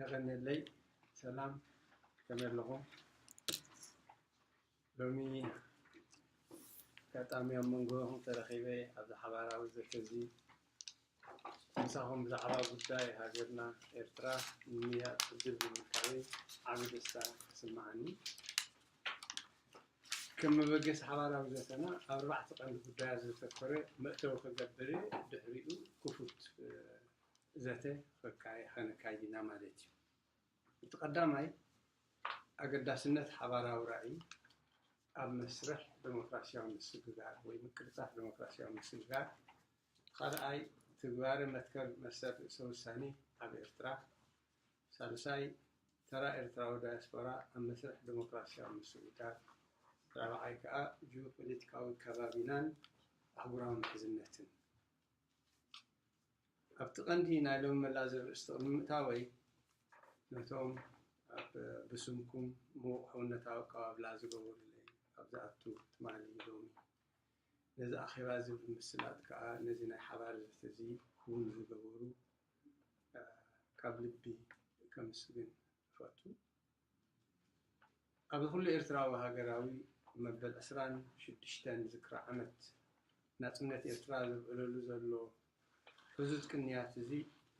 የቐንየለይ ሰላም ከመይ ኣለኹም ሎሚ ኣጋጣሚ ኣብ መንጎኹም ተረኺበ ኣብዚ ሓባራዊ ዘተ እዚ ምሳኹም ብዛዕባ ጉዳይ ሃገርና ኤርትራ ንምያእ ዕድል ብምርካበይ ዓብ ደስታ ይስምዓኒ ከም መበገሲ ሓባራዊ ዘተና ኣብ ኣርባዕተ ቀንዲ ጉዳያት ዘተኮረ መእተዊ ክገብር ድሕሪኡ ክፉት ዘተ ከካየኸነካይድ ኢና ማለት እዩ። እቲ ቀዳማይ ኣገዳስነት ሓባራዊ ራእይ ኣብ መስርሕ ደሞክራሲያዊ ምስግጋር ወይ ምቅልጣፍ ደሞክራሲያዊ ምስግጋር፣ እቲ ካልኣይ ትግባረ መትከል መሰል ርእሰ ውሳኔ ኣብ ኤርትራ፣ ሳልሳይ ተራ ኤርትራዊ ዳያስፖራ ኣብ መስርሕ ደሞክራሲያዊ ምስግጋር፣ ራብዓይ ከኣ ጂኦፖለቲካዊ ከባቢናን ኣህጉራዊ ምሕዝነትን። ኣብቲ ቀንዲ ናይ ሎሚ መላ ዘርእስቲ ቅድሚ ምእታወይ ነቶም ኣብ ብስምኩም ምዉቕ ሕውነታዊ ኣቀባብላ ዝገበሩለይ ኣብ ዝኣቱ ትማሊ ሎሚ ነዚ ኣኼባ እዚ ብምስላጥ ከኣ ነዚ ናይ ሓባር ዘተ እዚ ክዉን ዝገበሩ ካብ ልቢ ከምስግን እፈቱ። ኣብዚ ኩሉ ኤርትራዊ ሃገራዊ መበል ዕስራን ሽዱሽተን ዝክሪ ዓመት ናጽነት ኤርትራ ዘብዕለሉ ዘሎ ዕዙዝ ቅንያት'ዚ፣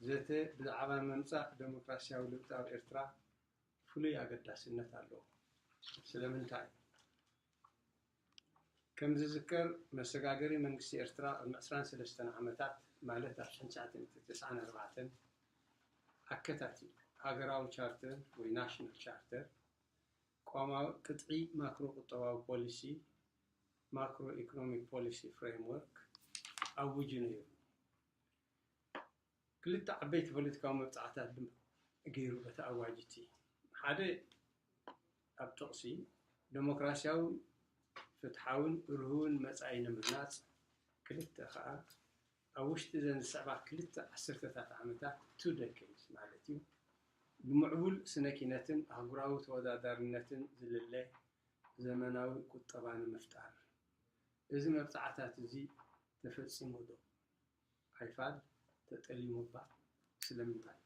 ዘተ ብዛዕባ ምምጻእ ደሞክራስያዊ ለውጢ ኣብ ኤርትራ ፍሉይ ኣገዳስነት ኣለዎ። ስለምንታይ? ከም ዝዝከር መሰጋገሪ መንግስቲ ኤርትራ ቅድሚ ዕስራን ሰለስተን ዓመታት ማለት ኣብ ሽሕን ትሽዓተ ሚእትን ተስዓን ኣርባዕተን ኣከታቲሉ ሃገራዊ ቻርተር ወይ ናሽናል ቻርተር፣ ቅዋማዊ ቅጥዒ ማክሮ ቁጠባዊ ፖሊሲ፣ Macroeconomic Policy Framework፣ ኣዊጁ ነይሩ። ክልተ ዓበይቲ ፖለቲካዊ መብጽዓታት ድማ ገይሩ በቲ ኣዋጅ እቲ። ሓደ ኣብ ጥቕሲ ደሞክራሲያዊ፣ ፍትሓውን ርሁውን መጻኢ ንምህናጽ፣ ክልተ ከኣ ኣብ ውሽጢ እዘን ዝስዕባ ክልተ ዓስርተታት ዓመታት፣ two decades፣ ማለት እዩ፣ ንምዕቡል ስነ-ኪነትን ኣህጉራዊ ተወዳዳርነትን ዝልለ ዘመናዊ ቁጠባ ንምፍጣር። እዚ መብጽዓታት እዚ ተፈጺሙዶ? ኣይፋል ተጠሊሙ'ባ ስለምንታይ?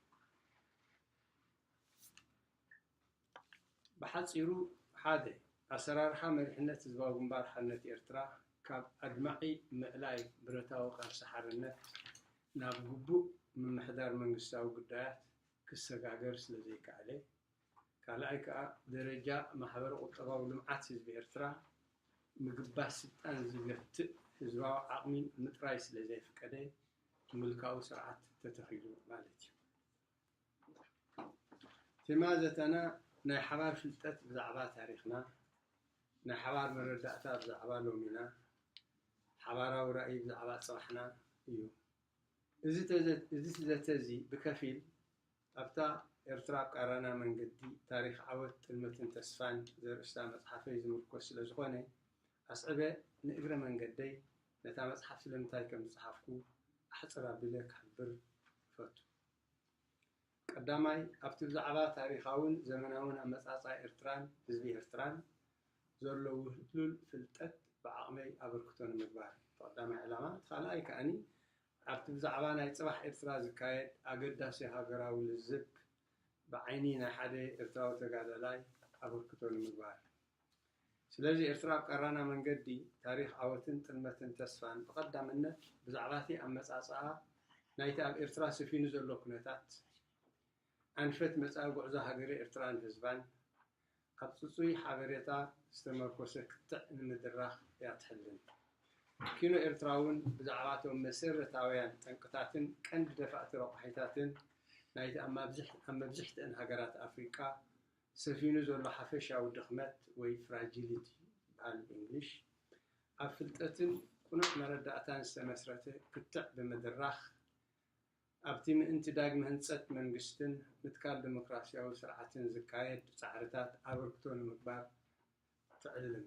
ብሓጺሩ ሓደ፣ ኣሰራርሓ መሪሕነት ህዝባዊ ግንባር ሓርነት ኤርትራ ካብ ኣድማዒ ምእላይ ብረታዊ ቃልሲ ሓርነት ናብ ግቡእ ምምሕዳር መንግስታዊ ጉዳያት ክሰጋገር ስለዘይከኣለ፣ ካልኣይ ከኣ ደረጃ ማሕበረ ቁጠባዊ ልምዓት ህዝቢ ኤርትራ ምግባስ ስልጣን ዝገትእ ህዝባዊ ዓቕሚ ምጥራይ ስለ ዘይፍቀደ ምልካዊ ስርዓት ተተኺሉ ማለት እዩ። ቴማ ዘተና ናይ ሓባር ፍልጠት ብዛዕባ ታሪኽና፣ ናይ ሓባር መረዳእታ ብዛዕባ ሎሚና፣ ሓባራዊ ራእይ ብዛዕባ ጽባሕና እዩ። እዚ ዘተ እዚ ብከፊል ኣብታ ኤርትራ ቃራና መንገዲ፣ ታሪኽ ዓወት፣ ጥልመትን ተስፋን ዘርእስታ መጽሓፈይ ዝምርኮስ ስለ ዝኾነ፣ ኣስዕበ ንእግረ መንገደይ ነታ መጽሓፍ ስለምንታይ ከም ዝጸሓፍኩ ኣሕጽር ኣቢለ ክሕብር እፈቱ። ቀዳማይ፣ ኣብቲ ብዛዕባ ታሪኻውን ዘመናውን ኣመጻጽኣ ኤርትራን ህዝቢ ኤርትራን ዘሎ ውህሉል ፍልጠት ብዓቕመይ ኣበርክቶ ንምግባር እዩ እቲ ቀዳማይ ዕላማ። እቲ ካልኣይ ከኣ ኣብቲ ብዛዕባ ናይ ጽባሕ ኤርትራ ዝካየድ ኣገዳሲ ሃገራዊ ልዝብ ብዓይኒ ናይ ሓደ ኤርትራዊ ተጋዳላይ ኣበርክቶ ንምግባር። ስለዚ ኤርትራ ኣብ ቀራና መንገዲ ታሪኽ ዓወትን ጥልመትን ተስፋን ብቐዳምነት ብዛዕባቲ ኣመጻጽኣ ናይቲ ኣብ ኤርትራ ሰፊኑ ዘሎ ኩነታት፣ ኣንፈት መጻኢ ጉዕዞ ሃገረ ኤርትራን ህዝባን ኣብ ጽጹይ ሓበሬታ ዝተመርኮሰ ክትዕ ንምድራኽ እያ ትሕልን። ኪኖ ኤርትራ'ውን ብዛዕባ'ቶም መሰረታውያን ጠንቅታትን ቀንዲ ደፋእቲ ረቋሒታትን ናይቲ ኣብ መብዝሕትኣን ሃገራት ኣፍሪቃ ሰፊኑ ዘሎ ሓፈሻዊ ድኽመት ወይ ፍራጂሊቲ ይበሃል ብእንግሊሽ ኣብ ፍልጠትን ቅኑዕ መረዳእታን ዝተመስረተ ክትዕ ብምድራኽ ኣብቲ ምእንቲ ዳግመ ህንጸት መንግስትን ምትካል ደሞክራሲያዊ ስርዓትን ዝካየድ ጻዕርታት ኣበርክቶ ንምግባር ትዕልም።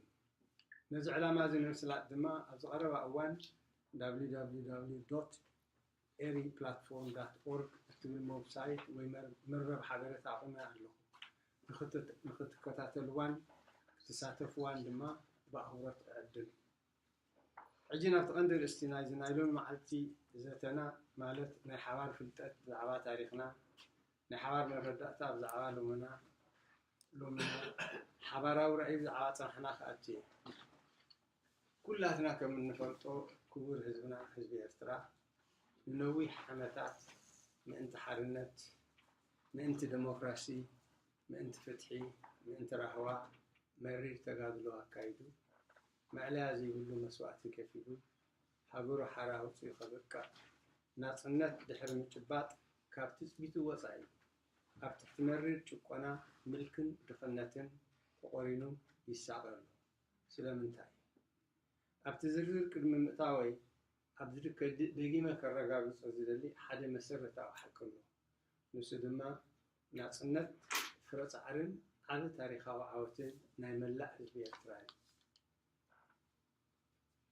ነዚ ዕላማ'ዚ ንምስላጥ ድማ ኣብዚ ቀረባ እዋን www.eriplatform.org እትብል መውብሳይት ወይ መርበብ ሓበሬታ ኣቑመ ኣለኹ። ንኽትከታተልዋን ክትሳተፍዋን ድማ ብኣኽብሮት እዕድም። ሕጂ ናብቲ ቀንዲ ኣርእስቲ ናይዚ ናይ ሎሚ መዓልቲ ዘተና ማለት ናይ ሓባር ፍልጠት ብዛዕባ ታሪኽና፣ ናይ ሓባር መረዳእታ ብዛዕባ ሎምና፣ ሓባራዊ ራእይ ብዛዕባ ጽባሕና ክኣቱ እየ። ኩላትና ከም እንፈልጦ ክቡር ህዝብና ህዝቢ ኤርትራ ንነዊሕ ዓመታት ምእንቲ ሓርነት፣ ምእንቲ ደሞክራሲ፣ ምእንቲ ፍትሒ፣ ምእንቲ ራህዋ መሪር ተጋድሎ ኣካይዱ። ማእለያ ዘይብሉ መስዋእቲ ከፊሉ ሃገሩ ሓራ ኣውጺኡ ከብቅዕ፣ ናጽነት ድሕሪ ምጭባጥ ካብ ትጽቢቱ ወጻኢ ኣብ ትሕቲ መሪር ጭቆና፣ ምልክን ድኽነትን ተቖሪኑ ይሳቐ ኣሎ። ስለምንታይ? ኣብቲ ዝርዝር ቅድሚ ምእታወይ ኣብዚ ድከ ደጊመ ከረጋግጾ ዝደሊ ሓደ መሰረታዊ ሓቂ ኣሎ። ንሱ ድማ ናጽነት ፍረ ጻዕርን ዓቢ ታሪኻዊ ዓወትን ናይ መላእ ህዝቢ ኤርትራ እዩ።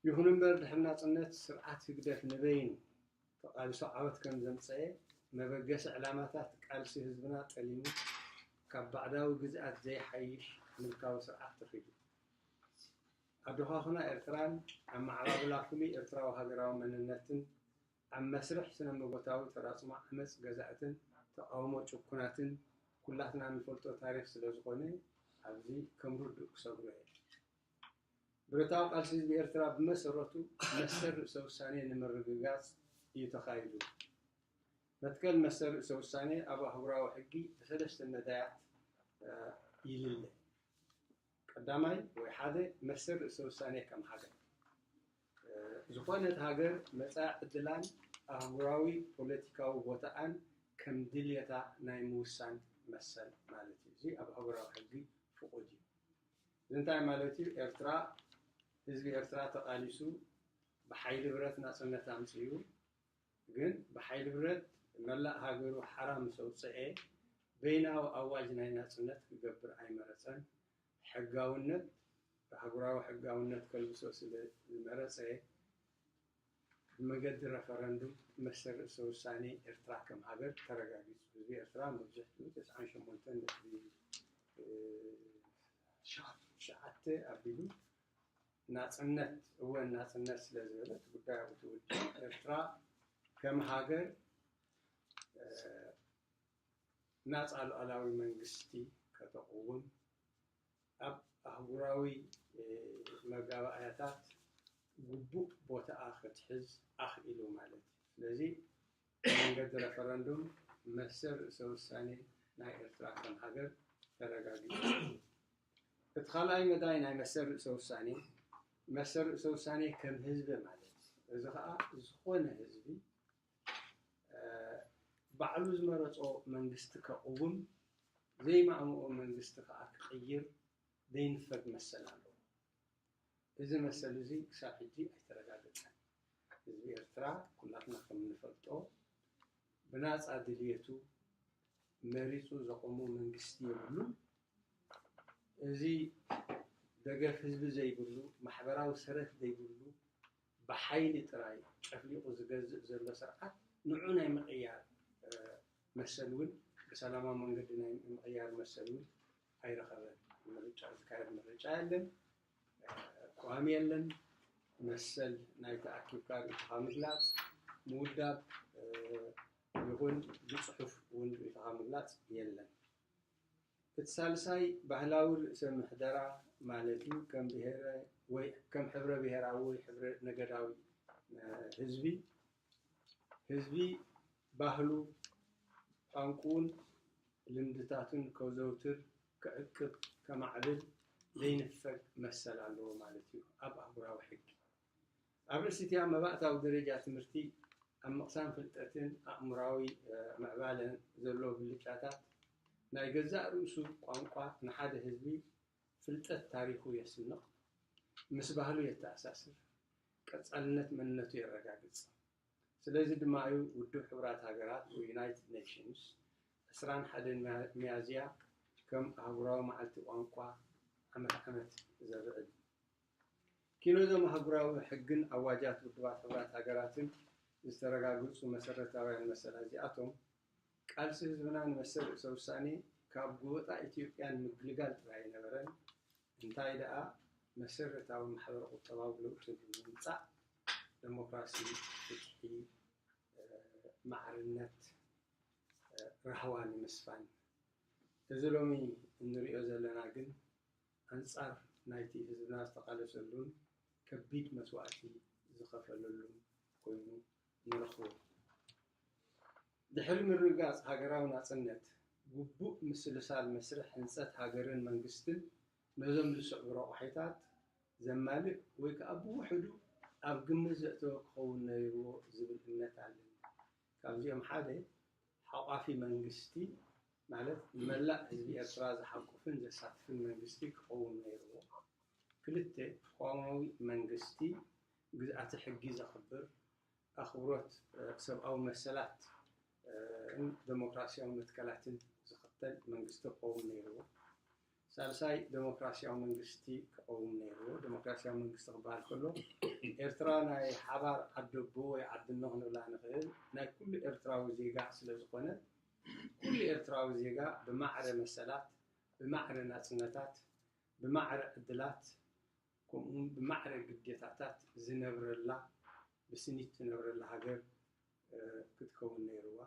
ይኹን እምበር ድሕሪ ናጽነት ስርዓት ህግደፍ ንበይኑ ተቓልሱ ዓወት ከም ዘምጸኤ መበገሲ ዕላማታት ቃልሲ ህዝብና ጠሊሙ ካብ ባዕዳዊ ግዝኣት ዘይሓይሽ ምልካዊ ስርዓት ተኺሉ ኣዶኻኹና ኤርትራን ኣመዓባብላ ፍሉይ ኤርትራዊ ሃገራዊ መንነትን ኣብ መስርሕ ስነመጎታዊ ተራጽሞ ዓመጽ ገዛእትን ተቃውሞ ጭኩናትን ኩላትና ንፈልጦ ታሪኽ ስለ ዝኾነ ኣብዚ ከም ርዱእ ክሰግሮ እየ። ብረታዊ ቃልሲ ህዝቢ ኤርትራ ብመሰረቱ መሰል ርእሰ ውሳኔ ንምርግጋጽ እዩ ተኻይዱ። መትከል መሰል ርእሰ ውሳኔ ኣብ ኣህጉራዊ ሕጊ ብሰለስተ መዳያት ይልለ። ቀዳማይ ወይ ሓደ መሰል ርእሰ ውሳኔ ከም ሃገር ዝኾነት ሃገር መጻኢ ዕድላን ኣህጉራዊ ፖለቲካዊ ቦታኣን ከም ድልየታ ናይ ምውሳን መሰል ማለት እዩ። እዚ ኣብ ኣህጉራዊ ሕጊ ፍቑድ እዩ። እዚ እንታይ ማለት እዩ? ኤርትራ ህዝቢ ኤርትራ ተቓሊሱ ብሓይሊ ብረት ናጽነት ኣምጺኡ፣ ግን ብሓይሊ ብረት መላእ ሃገሩ ሓራ ምስ ኣውጸኤ፣ በይናዊ ኣዋጅ ናይ ናጽነት ክገብር ኣይመረጸን። ሕጋውነት፣ ኣህጉራዊ ሕጋውነት ከልብሶ ስለ ዝመረጸ፣ ብመገዲ ረፈረንዱም መሰል ርእሰ ውሳኔ ኤርትራ ከም ሃገር ተረጋጊጹ። ህዝቢ ኤርትራ መብዝሕትኡ ተስዓን ሸሞንተን ነጥቢ ትሽዓተ ኣቢሉ፣ ናጽነት እወ ናጽነት ስለ ዝበለት ጉዳይ ኣብኡ ትውድእ። ኤርትራ ከም ሃገር ናጻ ሉዓላዊ መንግስቲ ከተቕውም ኣብ ኣህጉራዊ መጋባእያታት ግቡእ ቦታኣ ክትሕዝ ኣኽኢሉ ማለት እዩ። ስለዚ ብመንገዲ ረፈረንዱም መሰል ርእሰ ውሳኔ ናይ ኤርትራ ከም ሃገር ተረጋጊጹ እዩ። እቲ ካልኣይ መዳይ ናይ መሰል ርእሰ ውሳኔ፣ መሰል ርእሰ ውሳኔ ከም ህዝቢ ማለት እዩ። እዚ ከኣ ዝኾነ ህዝቢ ባዕሉ ዝመረጾ መንግስቲ ከቕውም፣ ዘይማእምኦ መንግስቲ ከኣ ክቕይር ዘይንፈግ መሰል ኣለዎ። እዚ መሰል እዚ ክሳብ ሕጂ ኣይተረጋገጸን። ህዝቢ ኤርትራ ኩላትና ከም እንፈልጦ ብናጻ ድልየቱ መሪጹ ዘቖሞ መንግስቲ የብሉን። እዚ ደገፍ ህዝቢ ዘይብሉ፣ ማሕበራዊ ሰረት ዘይብሉ፣ ብሓይሊ ጥራይ ጨፍሊቑ ዝገዝእ ዘሎ ስርዓት ንዑ ናይ ምቕያር መሰል እውን ብሰላማዊ መንገዲ ናይ ምቕያር መሰል እውን ኣይረኸበን። ምርጫ ዝካየድ ምርጫ የለን፣ ቅዋም የለን፣ መሰል ናይ ተኣኪብካ ርእይቶኻ ምግላፅ ምውዳብ ይኹን ብፅሑፍ እውን ርእይቶኻ ምግላፅ የለን። እቲ ሳልሳይ ባህላዊ ርእሰ ምሕደራ ማለት እዩ። ከም ብሄረ ወይ ከም ሕብረ ብሄራዊ ወይ ሕብረ ነገዳዊ ህዝቢ ህዝቢ ባህሉ፣ ቋንቁኡን ልምድታቱን ከዘውትር፣ ክዕቅብ፣ ከማዕብል ዘይንፈግ መሰል ኣለዎ ማለት እዩ ኣብ ኣህጉራዊ ሕጊ። ኣብ ርእሲ'ቲኣ መባእታዊ ደረጃ ትምህርቲ፣ ኣብ ምቕሳም ፍልጠትን ኣእምሮኣዊ ምዕባለን ዘለዎ ብልጫታት፣ ናይ ገዛእ ርእሱ ቋንቋ ንሓደ ህዝቢ ፍልጠት ታሪኹ የስንቕ፣ ምስ ባህሉ የተኣሳስር፣ ቀጻልነት መንነቱ የረጋግጽ። ስለዚ ድማ እዩ ውድብ ሕቡራት ሃገራት ወይ ዩናይትድ ኔሽንስ ዕስራን ሓደን ሚያዝያ ከም ኣህጉራዊ መዓልቲ ቋንቋ ዓመት ዓመት ዘብዕል። ኪኖ እዞም ኣህጉራዊ ሕግን ኣዋጃት ውድባት ሕቡራት ሃገራትን ዝተረጋገጹ መሰረታውያን መሰላት እዚኣቶም፣ ቃልሲ ህዝብና ንመሰል ርእሰ ውሳኔ ካብ ጎበጣ ኢትዮጵያ ንምግልጋል ጥራይ ኣይነበረን፣ እንታይ ደኣ መሰረታዊ ማሕበረ ቁጠባዊ ለውጢ ብምምጻእ ደሞክራሲ፣ ፍትሒ፣ ማዕርነት፣ ራህዋ ንምስፋን። እዚ ሎሚ እንርእዮ ዘለና ግን ኣንጻር ናይቲ ህዝብና ዝተቓለሰሉን ከቢድ መስዋእቲ ዝኸፈለሉን ኮይኑ ንረኽቦ። ድሕሪ ምርግጋጽ ሃገራዊ ናጽነት፣ ግቡእ ምስልሳል መስርሕ ህንጸት ሃገርን መንግስትን ነዞም ዝስዕቡ ረቋሒታት ዘማልእ ወይ ከኣ ብውሕዱ ኣብ ግምት ዘእተወ ክኸውን ነይርዎ ዝብል እምነት ኣለኒ። ካብዚኦም ሓደ ሓቋፊ መንግስቲ ማለት ንመላእ ህዝቢ ኤርትራ ዝሓቁፍን ዘሳትፍን መንግስቲ ክኸውን ነይርዎ። ክልተ፣ ቅዋማዊ መንግስቲ ግዝኣተ ሕጊ ዘኽብር፣ ኣኽብሮት ሰብኣዊ መሰላትን ደሞክራስያዊ መትከላትን ዝኽተል መንግስቲ ክቐውም ነይርዎ። ሳልሳይ፣ ደሞክራስያዊ መንግስቲ ክቐውም ነይርዎ። ደሞክራስያዊ መንግስቲ ክበሃል ከሎ፣ ኤርትራ ናይ ሓባር ዓደቦ ወይ ዓድኖ ክንብላ ንኽእል፣ ናይ ኩሉ ኤርትራዊ ዜጋ ስለ ዝኾነት፣ ኩሉ ኤርትራዊ ዜጋ ብማዕረ መሰላት፣ ብማዕረ ናጽነታት፣ ብማዕረ ዕድላት፣ ከምኡውን ብማዕረ ግዴታታት ዝነብረላ ብስኒት ትነብረላ ሃገር ክትከውን ነይሩዋ።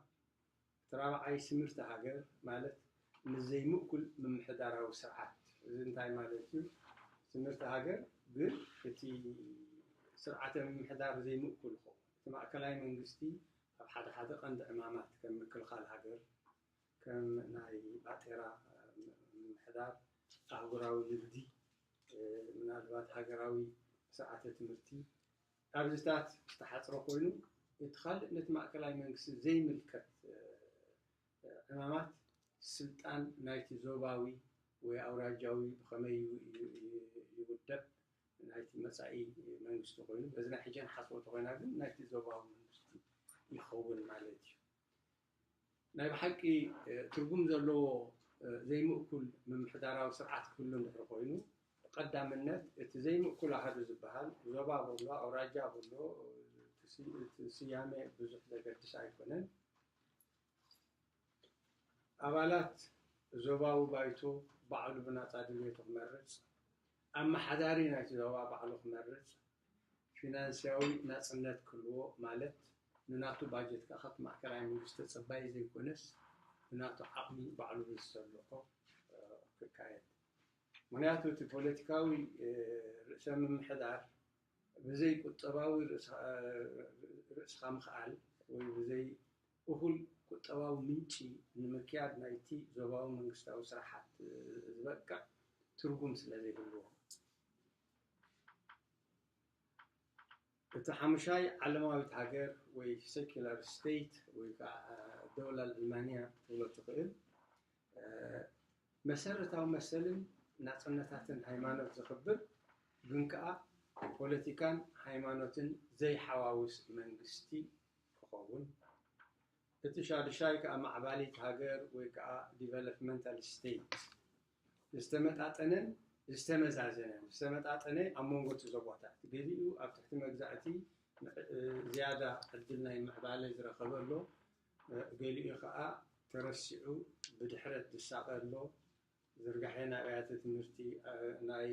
እቲ ራብዓይ ስምርቲ ሃገር ማለት ምስ ዘይምእኩል ምምሕዳራዊ ስርዓት፣ እዚ እንታይ ማለት እዩ? ስምርቲ ሃገር ግን እቲ ስርዓተ ምምሕዳር ዘይምእኩል ይኸውን። እቲ ማእከላይ መንግስቲ ኣብ ሓደ ሓደ ቀንዲ ዕማማት ከም ምክልኻል ሃገር፣ ከም ናይ ባጤራ ምምሕዳር፣ ኣህጉራዊ ንግዲ፣ ምናልባት ሃገራዊ ስርዓተ ትምህርቲ ኣብዚታት ዝተሓጽረ ኮይኑ፣ እቲ ካልእ ነቲ ማእከላይ መንግስቲ ዘይምልከት ዕማማት ስልጣን ናይቲ ዞባዊ ወይ ኣውራጃዊ ብኸመይ ይውደብ ናይቲ መጻኢ መንግስቲ ኮይኑ፣ በዚ ናይ ሕጂ ንሓስቦ እንተኾይና ግን ናይቲ ዞባዊ መንግስቲ ይኸውን ማለት እዩ። ናይ ብሓቂ ትርጉም ዘለዎ ዘይምእኩል ምምሕዳራዊ ስርዓት ክህሉ እንድሕር ኮይኑ፣ ብቀዳምነት እቲ ዘይምእኩል ኣሃዱ ዝበሃል፣ ዞባ በሎ፣ ኣውራጃ በሎ፣ እቲ ስያሜ ብዙሕ ዘገድስ ኣይኮነን፣ ኣባላት ዞባዊ ባይቶ ባዕሉ ብናጻ ድልየቱ ክመርጽ፣ ኣመሓዳሪ ናይቲ ዞባ ባዕሉ ክመርጽ፣ ፊናንስያዊ ናጽነት ክህልዎ ማለት ንናቱ ባጀት ከኣ ካብቲ ማእከላይ መንግስቲ ተጸባዪ ዘይኮነስ ብናቱ ዓቕሚ ባዕሉ ብዝሰልሖ ክካየድ ምኽንያቱ እቲ ፖለቲካዊ ርእሰ ምምሕዳር ብዘይ ቁጠባዊ ርእስኻ ምኽኣል ወይ ብዘይ እኹል ቁጠባዊ ምንጪ ንምክያድ ናይቲ ዞባዊ መንግስታዊ ስራሓት ዝበቅዕ ትርጉም ስለዘይህልዎ። እታ ሓሙሻይ ዓለማዊት ሃገር ወይ ሰኩላር ስተይት ወይ ከዓ ደውላ ኣልማንያ ክትብሎ ትኽእል መሰረታዊ መሰልን ናፅነታትን ሃይማኖት ዘኽብር ግን ከዓ ፖለቲካን ሃይማኖትን ዘይሓዋውስ መንግስቲ ክኸውን እቲ ሻዱሻይ ከዓ ማዕባሊት ሃገር ወይ ከዓ ዲቨሎፕመንታል ስተይት ዝተመጣጠነን ዝተመዛዘነን፣ ዝተመጣጠነ ኣብ መንጎ እቲ ዞባታት፣ ገሊኡ ኣብ ትሕቲ መግዛእቲ ዝያዳ ዕድል ናይ ምዕባለ ዝረኸበ ኣሎ፣ ገሊኡ ከኣ ተረሲዑ ብድሕረት ዝሳቐ ኣሎ፣ ዝርጋሐ ናይ ኣብያተ ትምህርቲ፣ ናይ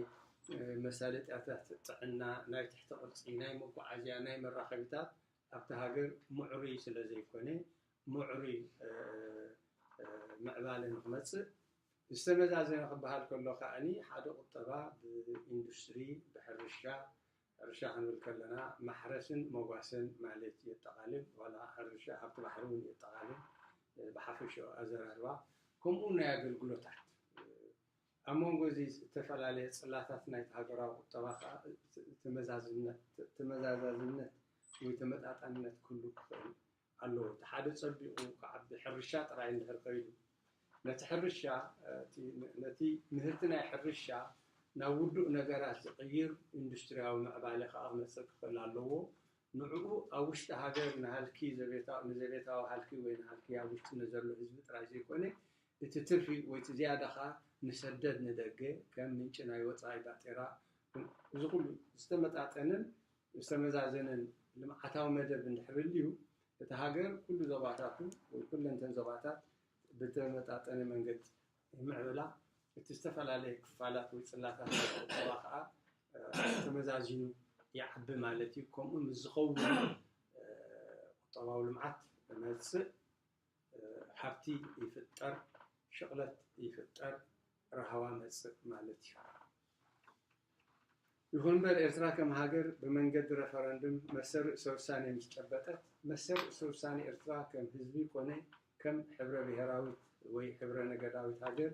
መሳለጥያታት ጥዕና፣ ናይ ትሕቲ ቅርጺ፣ ናይ መጓዓዝያ፣ ናይ መራኸቢታት ኣብታ ሃገር ምዕሩይ ስለዘይኮነ፣ ምዕሩይ ምዕባለ ንክመጽእ፣ ዝተመዛዘነ ክበሃል ከሎ ከኣ ሓደ ቁጠባ ብኢንዱስትሪ፣ ብሕርሻ፣ ሕርሻ ክንብል ከለና ማሕረስን መጓሰን ማለት የጠቓልል፣ ዋላ ሕርሻ ሃብቲ ባሕሪ እውን የጠቓልል፣ ብሓፈሻኡ ኣዘራርባ፣ ከምኡውን ናይ ኣገልግሎታት። ኣብ መንጎ እዚ እተፈላለየ ጽላታት ናይቲ ሃገራዊ ቁጠባ ከኣ ተመዛዝነት ወይ ተመጣጣንነት ክህሉ ክኽእል ኣለዎ እቲ ሓደ ጸቢቑ ክዓቢ ሕርሻ ጥራይ እንድሕር ከይዱ ነቲ ሕርሻ እቲ ነቲ ምህርቲ ናይ ሕርሻ ናብ ውዱእ ነገራት ዝቕይር ኢንዱስትርያዊ ምዕባለ ከኣ ክመጽእ ክኽእል ኣለዎ ንዕኡ ኣብ ውሽጢ ሃገር ንሃልኪ ዘቤታዊ ንዘቤታዊ ሃልኪ ወይ ንሃልኪ ኣብ ውሽጢ ንዘሎ ህዝቢ ጥራይ ዘይኮነ እቲ ትርፊ ወይ እቲ ዝያዳ ከኣ ንሰደድ ንደገ ከም ምንጪ ናይ ወጻኢ ባጤራ እዚ ኩሉ ዝተመጣጠነን ዝተመዛዘነን ልምዓታዊ መደብ እንድሕር ህልዩ፣ እታ ሃገር ኩሉ ዞባታቱ ወይ ኩለን እተን ዞባታት ብተመጣጠነ መንገዲ ይምዕብላ፣ እቲ ዝተፈላለየ ክፋላት ወይ ጽላታት ናይቲ ቁጠባ ከኣ ተመዛዚኑ ይዓቢ ማለት እዩ። ከምኡ ምስ ዝኸውን እዩ ቁጠባዊ ልምዓት ዝመጽእ። ሃብቲ ይፍጠር ሽቕለት ይፍጠር ራህዋ መጽእ ማለት እዩ። ይኹንምበር ኤርትራ ከም ሃገር ብመንገዲ ረፈረንድም መሰል ርእሰ ውሳኔ ምስ ጨበጠት መሰል ርእሰ ውሳኔ ኤርትራ ከም ህዝቢ ኮነ ከም ሕብረ ብሄራዊት ወይ ሕብረ ነገዳዊት ሃገር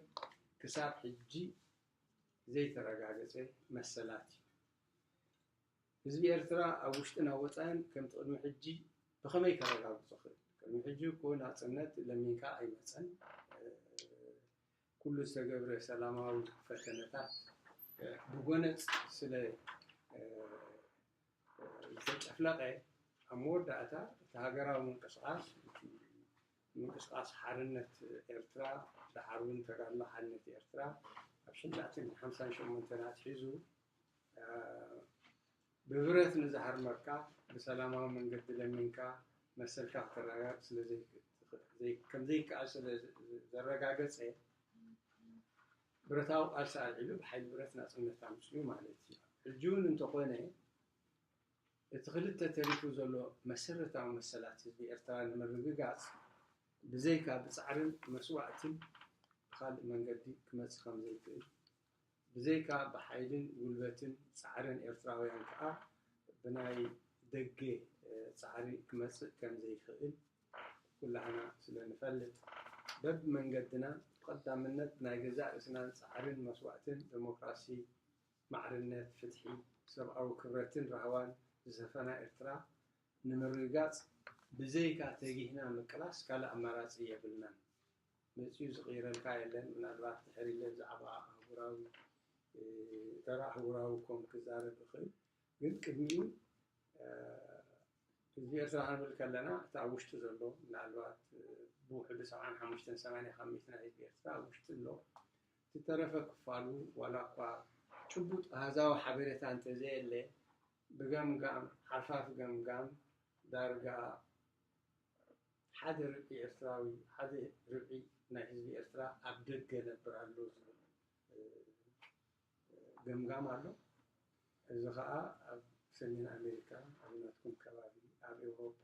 ክሳብ ሕጂ ዘይተረጋገጸ መሰላት እዩ። ህዝቢ ኤርትራ ኣብ ውሽጥን ኣብ ወጻኢን ከምቲ ቅድሚ ሕጂ ብኸመይ ከረጋግጾ ክእል? ቅድሚ ሕጂ እኮ ናጽነት ለሚንካ ኣይመጸን። ኩሉ ዝተገብረ ሰላማዊ ፈተነታት ብጎነጽ ስለ ዝተጨፍለቐ ኣብ መወዳእታ እቲ ሃገራዊ ምንቅስቓስ ምንቅስቓስ ሓርነት ኤርትራ ደሓር እውን ተጋድሎ ሓርነት ኤርትራ ኣብ ሽዳትን ሓምሳን ሸሞንተን ኣትሒዙ ብብረት ንዝሃርመካ ብሰላማዊ መንገዲ ለሚንካ መሰልካ ክተረጋግፅ ከምዘይከኣል ስለዘረጋገፀ ብረታዊ ቃልሲ ኣልዒሉ ብሓይሊ ብረት ናፅነት ኣምፅኡ ማለት እዩ። ሕጂ እውን እንተኾነ እቲ ክልተ ተሪፉ ዘሎ መሰረታዊ መሰላት ህዝቢ ኤርትራ ንምርግጋጽ ብዘይካ ብጻዕርን መስዋእትን ብኻልእ መንገዲ ክመጽእ ከም ዘይክእል ብዘይካ ብሓይልን ጉልበትን ጻዕርን ኤርትራውያን ከኣ ብናይ ደገ ጻዕሪ ክመጽእ ከም ዘይክእል ኩላህና ስለ ንፈልጥ በብመንገድና ብቐዳምነት ናይ ገዛእ ርእስናን ጻዕርን መስዋእትን ደሞክራሲ፣ ማዕርነት፣ ፍትሒ፣ ሰብኣዊ ክብረትን ራህዋን ዝሰፈና ኤርትራ ንምርግጋጽ ብዘይካ ተጊህና ምቅላስ ካልእ ኣማራጺ የብልናን። መጺኡ ዝቕይረልካ የለን ምናልባት ድሕር ኢለ ብዛዕባ ኣህጉራዊ እተር ኣህጉራዊ ኮም ክዛረብ እኽእል ግን ቅድሚኡ ህዝቢ ኤርትራ ክንብል ከለና እቲ ኣብ ውሽጢ ዘሎ ምናልባት ብውሕዱ ሰብዓን ሓሙሽተን ሰማንያ ካብ ሚእቲ ናይ ህዝቢ ኤርትራ ኣብ ውሽጢ ኣሎ እቲ ተረፈ ክፋሉ ዋላ እኳ ጭቡጥ ኣሃዛዊ ሓበሬታ እንተዘየለ ብገምጋም ሓርፋፍ ገምጋም ዳርጋ ሓደ ርብዒ ኤርትራዊ፣ ሓደ ርብዒ ናይ ህዝቢ ኤርትራ ኣብ ደገ ይነብር ኣሎ ዝብል ገምጋም ኣሎ። እዚ ከኣ ኣብ ሰሜን ኣሜሪካ፣ ኣብ ናትኩም ከባቢ፣ ኣብ ኤውሮጳ፣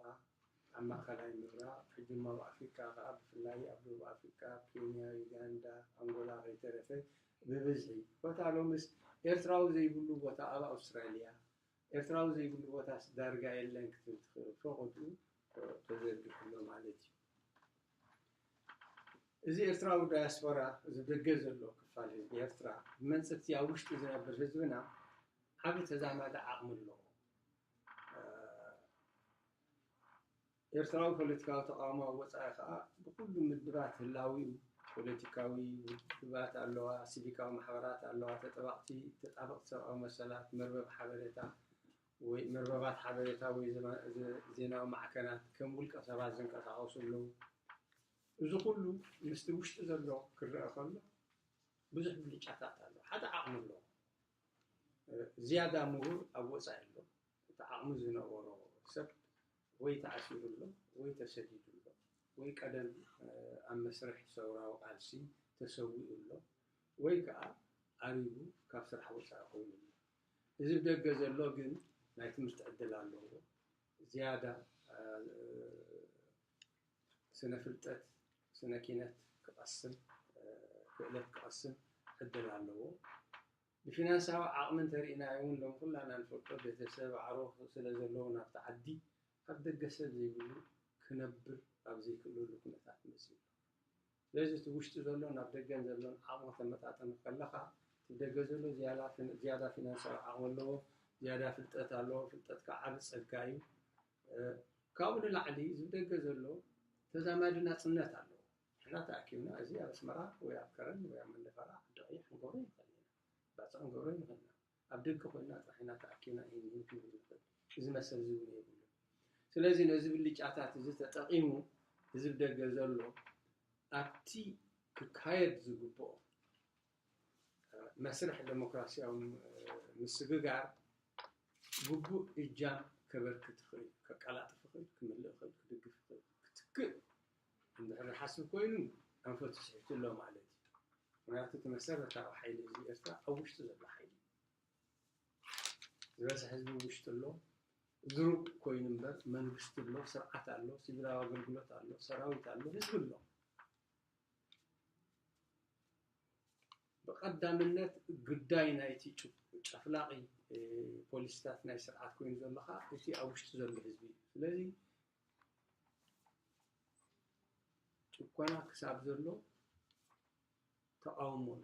ኣብ ማእከላይ ምብራቕ፣ ሕጂ እሞ ኣብ ኣፍሪቃ ከኣ ብፍላይ ኣብ ደቡብ ኣፍሪቃ፣ ኬንያ፣ ዩጋንዳ፣ ኣንጎላ ከይተረፈ ብብዝሒ ኮታ ሎምስ ኤርትራዊ ዘይብሉ ቦታ ኣብ ኣውስትራልያ ኤርትራዊ ዘይብሉ ቦታስ ዳርጋ የለን ክትብል ትኽእል፣ ፎቖድኡ ተዘርጊሑ ኣሎ ማለት እዩ። እዚ ኤርትራዊ ዳያስፖራ እዚ ደገ ዘሎ ክፋል ህዝቢ ኤርትራ ብመንጽፍቲ ኣብ ውሽጢ ዝነብር ህዝብና ዓቢ ተዛማዲ ዓቕሚ ኣለዎ። ኤርትራዊ ፖለቲካዊ ተቓውሞ ኣብ ወጻኢ ከኣ ብኹሉ ምድባት ህላዊኡ፣ ፖለቲካዊ ውድባት ኣለዋ፣ ሲቪካዊ ማሕበራት ኣለዋ፣ ተጠባቕቲ፣ ተጣበቕቲ ሰብኣዊ መሰላት፣ መርበብ ሓበሬታ ወይ መርበባት ሓበሬታ ወይ ዜናዊ ማዕከናት፣ ከም ውልቀ ሰባት ዝንቀሳቐሱ ኣለዉ። እዚ ኩሉ ምስቲ ውሽጢ ዘሎ ክረኣ ከሎ ብዙሕ ብልጫታት ኣለዎ። ሓደ ዓቕሚ ኣለዎ። ዝያዳ ምሁር ኣብ ወጻኢ ኣሎ። እቲ ዓቕሚ ዝነበሮ ሰብ ወይ ተኣሲሩ ኣሎ ወይ ተሰዲዱ ኣሎ ወይ ቀደም ኣብ መስርሕ ሰውራዊ ቃልሲ ተሰዊኡ ኣሎ ወይ ከኣ ኣሪጉ ካብ ስራሕ ወጻኢ ኮይኑ ኣሎ። እዚ ብደገ ዘሎ ግን ናይ ትምህርቲ ዕድል ኣለዎ፣ ዝያዳ ስነ ፍልጠት፣ ስነ ኪነት ክቐስም፣ ክእለት ክቐስም ዕድል ኣለዎ። ብፊናንሳዊ ዓቕሚ እንተርኢናዮ ውን ሎም ኩላና ንፈልጦ ቤተሰብ ኣዕሩኽ ስለ ዘለዉ ናብቲ ዓዲ ካብ ደገ ሰብ ዘይብሉ ክነብር ኣብ ዘይክእለሉ ኩነታት መጺኡ ኣሎ። ስለዚ እቲ ውሽጢ ዘሎን ኣብ ደገን ዘሎን ዓቕሚ ክተመጣጥን ከለኻ እቲ ብደገ ዘሎ ዝያዳ ፊናንሳዊ ዓቕሚ ኣለዎ፣ ዝያዳ ፍልጠት ኣለዎ፣ ፍልጠት ከኣ ዓቢ ጸጋ እዩ። ካብኡ ንላዕሊ እዚ ብደገ ዘሎ ተዛማዲ ናጽነት ኣለዎ። ንሕና ተኣኪብና እዚ ኣብ ኣስመራ ወይ ኣብ ከረን ወይ ኣብ መንደፈራ ዓዲቐይሕ ክንገብሮ ይኸእል ኢና። ባጽዕ ክንገብሮ ንኸእል ኢና። ኣብ ደገ ኮይንና ጥራሕ ኢና ተኣኪብና ኢሂን ምሂን ክንብል ንኸእል። እዚ መሰል እዚ እውን የብሉን። ስለዚ ነዚ ብልጫታት እዚ ተጠቒሙ ህዝቢ ደገ ዘሎ ኣብቲ ክካየድ ዝግብኦ መስርሕ ደሞክራሲያዊ ምስግጋር ግቡእ እጃም ከበርክት ይኽእል፣ ከቀላጥፍ ይኽእል፣ ክምልእ ይኽእል፣ ክድግፍ ይኽእል፣ ክትክእ እንድሕር ይሓስብ ኮይኑ ኣንፈቱ ስሒቱ ኣሎ ማለት እዩ። ምኽንያቱ እቲ መሰረታዊ ሓይሊ ህዝቢ ኤርትራ ኣብ ውሽጡ ዘሎ ሓይሊ እዩ። ዝበዝሕ ህዝቢ ኣብ ውሽጡ ኣሎ። ድሩብ ኮይኑ እምበር መንግስቲ ኣሎ፣ ስርዓት ኣሎ፣ ሲቪላዊ ኣገልግሎት ኣሎ፣ ሰራዊት ኣሎ፣ ህዝቢ ኣሎ። ብቀዳምነት ግዳይ ናይቲ ጨፍላቒ ፖሊሲታት ናይ ስርዓት ኮይኑ ዘሎ ከኣ እቲ ኣብ ውሽጡ ዘሎ ህዝቢ እዩ። ስለዚ ጭኮና ክሳብ ዘሎ ተቓውሞ ኣሎ።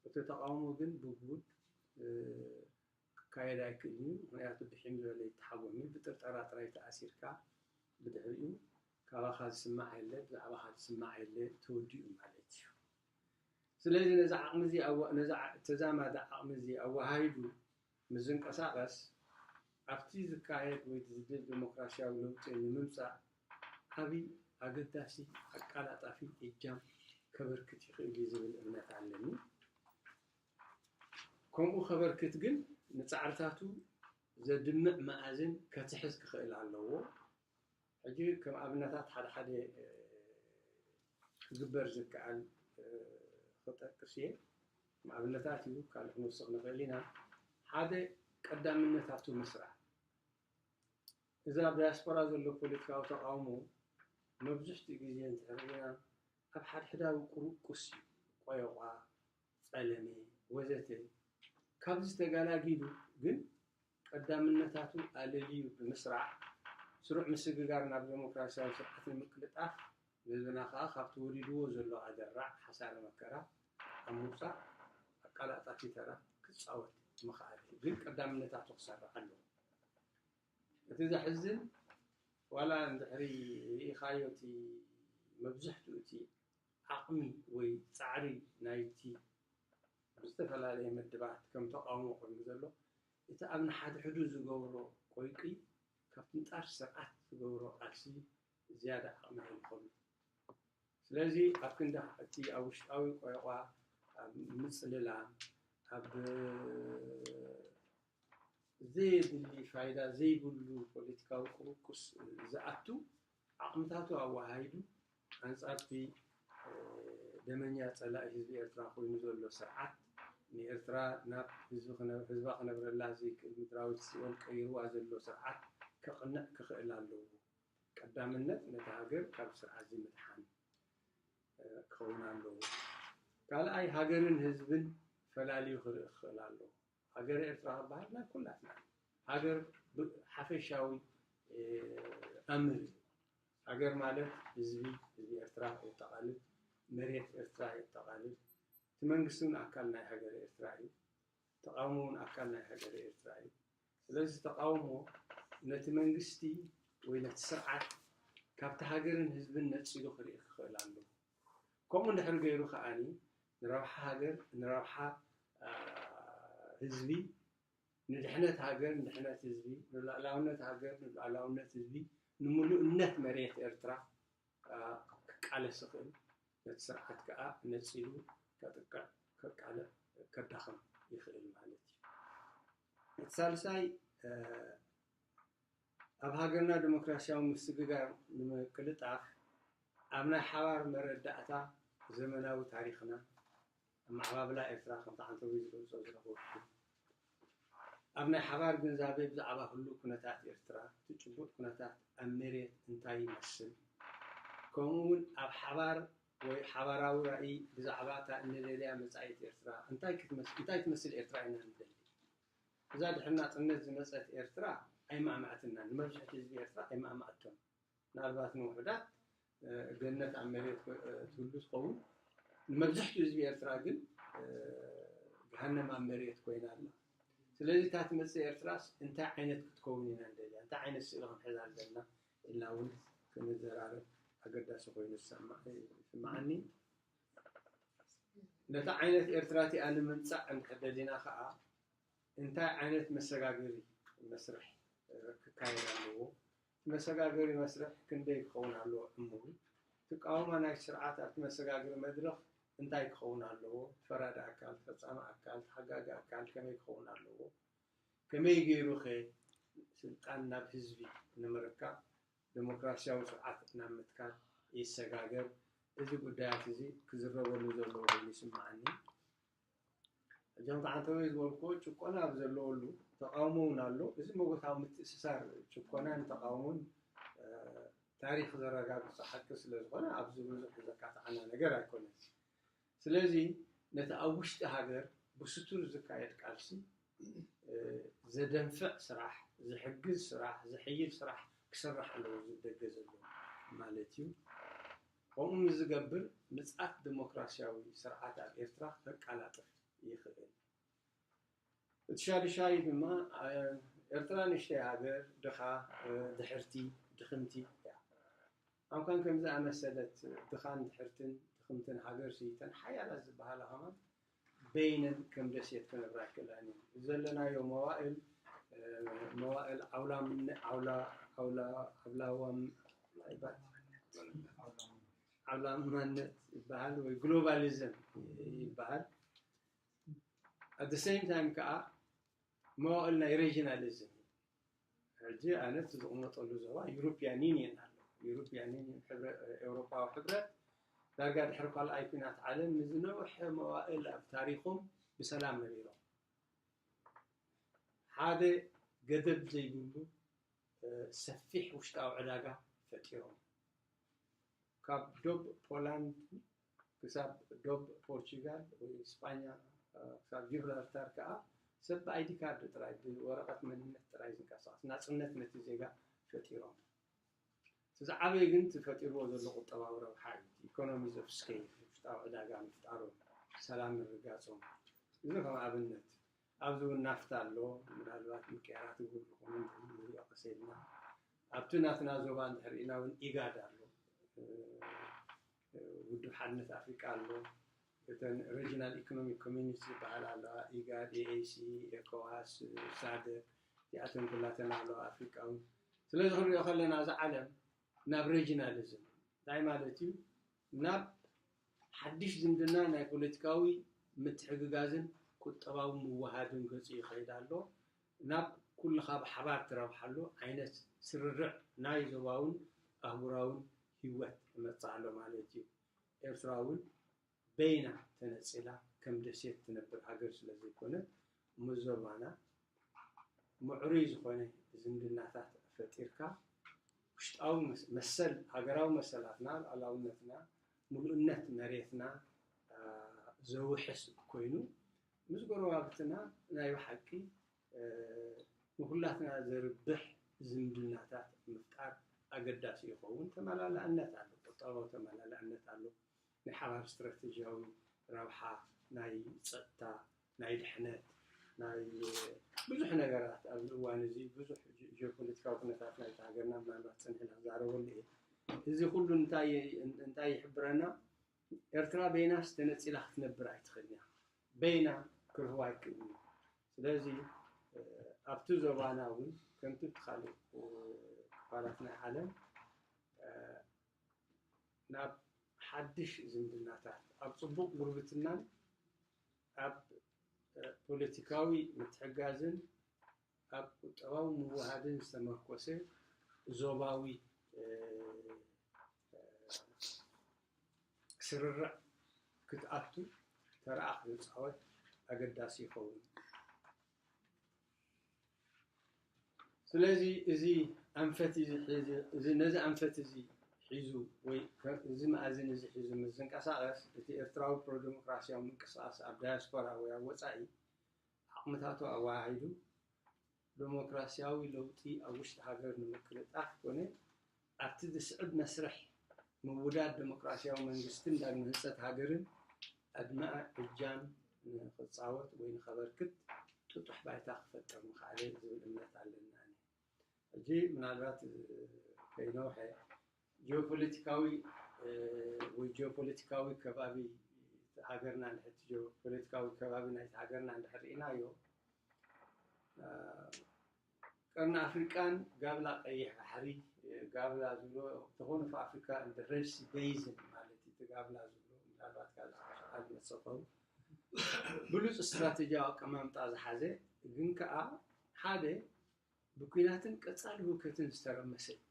እቲ ተቓውሞ ግን ብጉድ ክካየድ ኣይክእልን እዩ። ምክንያቱ ብሒም ዝበለ ይተሓጎም እዩ። ብጥርጠራ ጥራይ ተኣሲርካ ብድሕሪኡ ካባኻ ዝስማዕ የለ ብዛዕባኻ ዝስማዕ የለ ተወዲኡ ማለት እዩ። ስለዚ ነዚ ዓቕሚ እዚ ነዚ ተዛማዲ ዓቕሚ እዚ ኣወሃሂዱ ምስ ዝንቀሳቐስ ኣብቲ ዝካየድ ወይ ዝድል ደሞክራሲያዊ ለውጢ ንምምጻእ ዓቢ፣ ኣገዳሲ፣ ኣቃላጣፊ እጃም ከበርክት ይኽእል እዩ ዝብል እምነት ኣለኒ። ከምኡ ከበርክት ግን ንጻዕርታቱ ዘድምዕ መኣዝን ከትሕዝ ክኽእል ኣለዎ። ሕጂ ከም ኣብነታት ሓደ ሓደ ክግበር ዝከኣል ክጠቅስ እየ። ከም ኣብነታት እዩ ካልእ ክንውስኽ ንኽእል ኢና። ሓደ ቀዳምነታቱ ምስራዕ እዚ ኣብ ዳያስፖራ ዘሎ ፖለቲካዊ ተቓውሞ መብዝሕትኡ ግዜ እንተ ርኢና ኣብ ሓድሕዳዊ ቁርቁስ እዩ። ቆየቋ፣ ጸለመ ወዘተ ካብዚ ተጋላጊሉ ግን ቀዳምነታቱ ኣለልዩ ብምስራዕ ስሩዕ ምስግጋር ናብ ደሞክራሲያዊ ስርዓት ንምቅልጣፍ ንህዝብና ከኣ ካብቲ ወሪድዎ ዘሎ ኣደራዕ ሓሳረ መከራ ኣብ ምውጻእ ኣቃላጣፊ ተራ ክጻወት ምኸኣለ ግን ቀዳምነታቱ ክሰርዕ ኣለዎ። እቲ ዘሕዝን ዋላ እንድሕሪ ርኢኻዮ እቲ መብዝሕትኡ እቲ ዓቕሚ ወይ ጻዕሪ ናይቲ ብዝተፈላለየ መድባት ከም ተቓውሞ ኮይኑ ዘሎ እቲ ኣብ ንሓድሕዱ ዝገብሮ ቆይቂ ካብቲ ንጣር ስርዓት ዝገብሮ ቃልሲ ዝያዳ ዓቕሚ ከምኸኑ ስለዚ ኣብ ክንዲ እቲ ኣብ ውሽጣዊ ቆይቋ ኣብ ምጽልላም ኣብ ዘየድሊ ፋይዳ ዘይብሉ ፖለቲካዊ ቁሩቁስ ዝኣቱ ዓቕምታቱ ኣወሃሂዱ ኣንጻር'ቲ ደመኛ ጸላኢ ህዝቢ ኤርትራ ኮይኑ ዘሎ ስርዓት፣ ንኤርትራ ናብ ህዝባ ክነብረላ ዘይክእል ምድራዊት ሲኦል ቀይሩዋ ዘሎ ስርዓት ከቕንዕ ክኽእል ኣለዎ። ቀዳምነት ነታ ሃገር ካብዚ ስርዓትዚ ምድሓን ክኸውን ኣለዎ። ካልኣይ ሃገርን ህዝብን ፈላልዩ ክርኢ ክኽእል ኣለዎ። ሃገረ ኤርትራ ክበሃል ናይ ኩላትና እዩ። ሃገር ሓፈሻዊ ኣምር እዩ። ሃገር ማለት ህዝቢ ህዝቢ ኤርትራ የጠቓልል፣ መሬት ኤርትራ የጠቓልል። እቲ መንግስቲ እውን ኣካል ናይ ሃገረ ኤርትራ እዩ። ተቓውሞ እውን ኣካል ናይ ሃገረ ኤርትራ እዩ። ስለዚ ተቓውሞ ነቲ መንግስቲ ወይ ነቲ ስርዓት ካብቲ ሃገርን ህዝብን ነጺሉ ክርኢ ክኽእል ኣለዎ። ከምኡ እንድሕር ገይሩ ከኣ ንረብሓ ሃገር ንረብሓ ህዝቢ ንድሕነት ሃገር ንድሕነት ህዝቢ ንሉኣላውነት ሃገር ንሉኣላውነት ህዝቢ ንምሉእነት መሬት ኤርትራ ክቃለስ ይኽእል ነቲ ስርዓት ከኣ ነጺሉ ከጥቅዕ ከቃልዕ ከዳኽም ይኽእል ማለት እዩ እቲ ሳልሳይ ኣብ ሃገርና ደሞክራሲያዊ ምስግጋር ንምቅልጣፍ ኣብ ናይ ሓባር መረዳእታ ዘመናዊ ታሪኽና ኣመዓባብላ ኤርትራ ከምቲ ዓንተቦይ ዝገልጾ ዝነበርኩ ኣብ ናይ ሓባር ግንዛቤ ብዛዕባ ህሉው ኩነታት ኤርትራ እቲ ጭቡጥ ኩነታት ኣብ መሬት እንታይ ይመስል ከምኡውን ኣብ ሓባር ወይ ሓባራዊ ራእይ ብዛዕባ እታ እንደልያ መጻኢት ኤርትራ እንታይ ትመስል ኤርትራ ኢና ንደሊ እዛ ድሕሪ ናጽነት ዝመጸት ኤርትራ ኣይማእማዕትናን ንመብዝሕቲ ህዝቢ ኤርትራ ኣይማእማዕቶን ምናልባት ንውሑዳት ገነት ኣብ መሬት ትህሉ ትኸውን ንመብዝሕቱ ህዝቢ ኤርትራ ግን ገሃነም ኣብ መሬት ኮይና ኣላ ስለዚ እታ ትመጽእ ኤርትራስ እንታይ ዓይነት ክትከውን ኢና ንደልያ እንታይ ዓይነት ስእሊ ክንሕዛ ኣለና ኢልና እውን ክንዘራረብ ኣገዳሲ ኮይኑ ይስማዓኒ ነታ ዓይነት ኤርትራ እቲኣ ንምምጻእ እንድሕር ደሊና ከኣ እንታይ ዓይነት መሰጋገሪ መስርሕ ክካየድ ኣለዎ፣ እቲ መሰጋገሪ መስርሕ ክንደይ ክኸውን ኣለዎ ዕሙሩ፣ ትቃውማ ናይቲ ስርዓት ኣብቲ መሰጋገሪ መድረኽ እንታይ ክኸውን ኣለዎ፣ ፈራዲ ኣካል፣ ፈጻሚ ኣካል፣ ተሓጋጊ ኣካል ከመይ ክኸውን ኣለዎ፣ ከመይ ገይሩ'ኸ ስልጣን ናብ ህዝቢ ንምርካብ ደሞክራሲያዊ ስርዓት ናብ ምትካል ይሰጋገር። እዚ ጉዳያት እዚ ክዝረበሉ ዘለዎ ኮይኑ ይስመዓኒ። እዞም ከዓ እንተበይ ዝበልኩዎ ጭቆና ኣብ ዘለወሉ ተቃውሞ እውን ኣሎ። እዚ መጎታዊ ምትእስሳር ጭቆናን ተቃውሞን ታሪክ ዘረጋግፆ ሓቂ ስለዝኾነ ኣብዚ ብዙሕ ዘካትዓና ነገር ኣይኮነን። ስለዚ ነቲ ኣብ ውሽጢ ሃገር ብስቱር ዝካየድ ቃልሲ ዘደንፍዕ ስራሕ፣ ዝሕግዝ ስራሕ፣ ዝሕይል ስራሕ ክስራሕ ኣለዎ ዝብል ደገ ዘለዎ ማለት እዩ። ከምኡ ምስ ዝገብር ምጽኣት ደሞክራሲያዊ ስርዓት ኣብ ኤርትራ ከቃላጥፍ ይኽእል። እቲ ሻዱሻይ ድማ ኤርትራ ንእሽተይ ሃገር፣ ድኻ፣ ድሕርቲ፣ ድኽምቲ እያ። ኣምካን ከምዚ ዝኣመሰለት ድኻን ድሕርትን ድኽምትን ሃገር ሲ እተን ሓያላት ዝብሃላ ከማን በይነን ከም ደሴት ክነብራ ኣይክእላን እየን። እዚ ዘለናዮ መዋእል መዋእል ዓውላምነ ዓውላ ዓውላ ዓብላዋም ይባት ዓብላማነት ይበሃል ወይ ግሎባሊዝም ይበሃል ኣት ሴም ታይም ከዓ መዋእል ናይ ሬጂናሊዝም ሕጂ ኣነ እቲ ዝቕመጠሉ ዞባ ዩሮፕያን ዩኒየን ኣሎ ዩሮፕያን ዩኒየን ኤውሮፓዊ ሕብረት ዳርጋ ድሕሪ ካልኣይ ኩናት ዓለም ንዝነውሐ መዋእል ኣብ ታሪኹም ብሰላም ነቢሮም ሓደ ገደብ ዘይብሉ ሰፊሕ ውሽጣዊ ዕዳጋ ፈጢሮም ካብ ዶብ ፖላንድ ክሳብ ዶብ ፖርቹጋል ወይ ስጳኛ ክሳብ ጂብራልታር ከኣ ሰብ ብኣይዲ ካርድ ጥራይ ብወረቐት መንነት ጥራይ ዝንቀሳቐስ ናጽነት ነቲ ዜጋ ፈጢሮም። እቲ ዝዓበየ ግን እቲ ፈጢርዎ ዘሎ ቁጠባዊ ረብሓ እዩ፣ እቲ ኢኮኖሚስ ኦፍ ስኬል፣ ውሽጣዊ ዕዳጋ ምፍጣሮም፣ ሰላም ምርጋጾም። እዚ ከም ኣብነት ኣብዚ እውን ናፍታ ኣሎ፣ ምናልባት ምቅያራት ጉምሩክ እውን ንሪኦ ቀስ ኢልና። ኣብቲ ናትና ዞባ እንድሕር ርኢና እውን ኢጋድ ኣሎ። ውድብ ሓድነት ኣፍሪቃ ኣሎ፣ እተን ረጅናል ኢኮኖሚክ ኮሚኒቲ ዝበሃላ ኣለዋ፣ ኢጋድ፣ EAC፣ ኤኮዋስ፣ ሳደክ፣ እዚኣተን ኩላተን ኣለዋ፣ ኣፍሪቃውን። ስለዚ ክንሪኦ ከለና እዛ ዓለም ናብ ረጅናሊዝም እንታይ ማለት እዩ ናብ ሓድሽ ዝምድና ናይ ፖለቲካዊ ምትሕግጋዝን ቁጠባዊ ምውሃድን ገጹ ይኸይድ ኣሎ። ናብ ኩልኻ ብሓባር ትረብሓሉ ዓይነት ስርርዕ ናይ ዞባውን ኣህጉራውን ሂወት ክመጽእ ኣሎ ማለት እዩ። ኤርትራ እውን በይና ተነጺላ ከም ደሴት ትነብር ሃገር ስለ ዘይኮነት፣ ምስ ዞባና ምዕሩይ ዝኾነ ዝምድናታት ፈጢርካ፣ ውሽጣዊ መሰል ሃገራዊ መሰላትና፣ ሉኣላውነትና፣ ምሉእነት መሬትና ዘውሕስ ኮይኑ ምስ ጎረባብትና ናይ ብሓቂ ንኹላትና ዘርብሕ ዝምድናታት ምፍጣር ኣገዳሲ ይኸውን። ተመላላእነት ኣሎ፣ ቁጠባዊ ተመላላእነት ኣሎ፣ ናይ ሓባር ስትራተጂያዊ ረብሓ፣ ናይ ፀጥታ፣ ናይ ድሕነት፣ ናይ ብዙሕ ነገራት ኣብዚ እዋን እዚ ብዙሕ ጂኦፖለቲካዊ ኩነታት ናይቲ ሃገርና ምናልባት ፅንሕ ኢለ ክዛረበሉ እየ። እዚ ኩሉ እንታይ እንታይ ይሕብረና? ኤርትራ በይናስ ተነጺላ ክትነብር ኣይትኽእልን እያ። በይና ክርህዋ ኣይክእልን እዩ። ስለዚ ኣብቲ ዞባና እውን ከምቲ እቲ ካልእ ክፋላት ናይ ዓለም ናብ ሓድሽ ዝምድናታት ኣብ ጽቡቕ ጉርብትናን ኣብ ፖለቲካዊ ምትሕጋዝን ኣብ ቁጠባዊ ምውህሃድን ዝተመርኮሰ ዞባዊ ስርርዕ ክትኣቱ ተራኣ ክትጻወት ኣገዳሲ ይኸውን። ስለዚ እዚ ኣንፈት እዚ ነዚ ኣንፈት እዚ ሒዙ ወይ እዚ መኣዝን እዚ ሒዙ ምስ ዝንቀሳቐስ እቲ ኤርትራዊ ፕሮደሞክራስያዊ ምንቅስቓስ ኣብ ዳያስፖራ ወይ ኣብ ወጻኢ ዓቕምታቱ ኣወሃሂዱ ደሞክራሲያዊ ለውጢ ኣብ ውሽጢ ሃገር ንምቅልጣፍ ኮነ ኣብቲ ዝስዕብ መስርሕ ምውዳድ ደሞክራሲያዊ መንግስትን ዳግመ ህንፀት ሃገርን ዕድመ እጃም ንኽፃወት ወይ ንኸበርክት ጥጡሕ ባይታ ክፈጥር ምኸኣለ ዝብል እምነት ኣለኒ ኣነ። ሕጂ ምናልባት ከይነውሐ ጂኦፖለቲካዊ ወይ ጂኦፖለቲካዊ ከባቢ ሃገርና ንሕቲ ጂኦፖለቲካዊ ከባቢ ናይቲ ሃገርና እንድሕር ርኢናዮ ቀርኒ ኣፍሪቃን ጋብላ ቀይሕ ባሕሪ ጋብላ ዝብሎ ተኾኑ ኣፍሪካ እንደ ሬድሲ ቤዝን ማለት እዩ እቲ ጋብላ ዝብሎ ምናልባት ካብ ዝሓሸቃል መሰኸሩ ብሉፅ ስትራቴጂያዊ ኣቀማምጣ ዝሓዘ ግን ከዓ ሓደ ብኲናትን ቀፃሊ ህውከትን ዝተረመሰ እዩ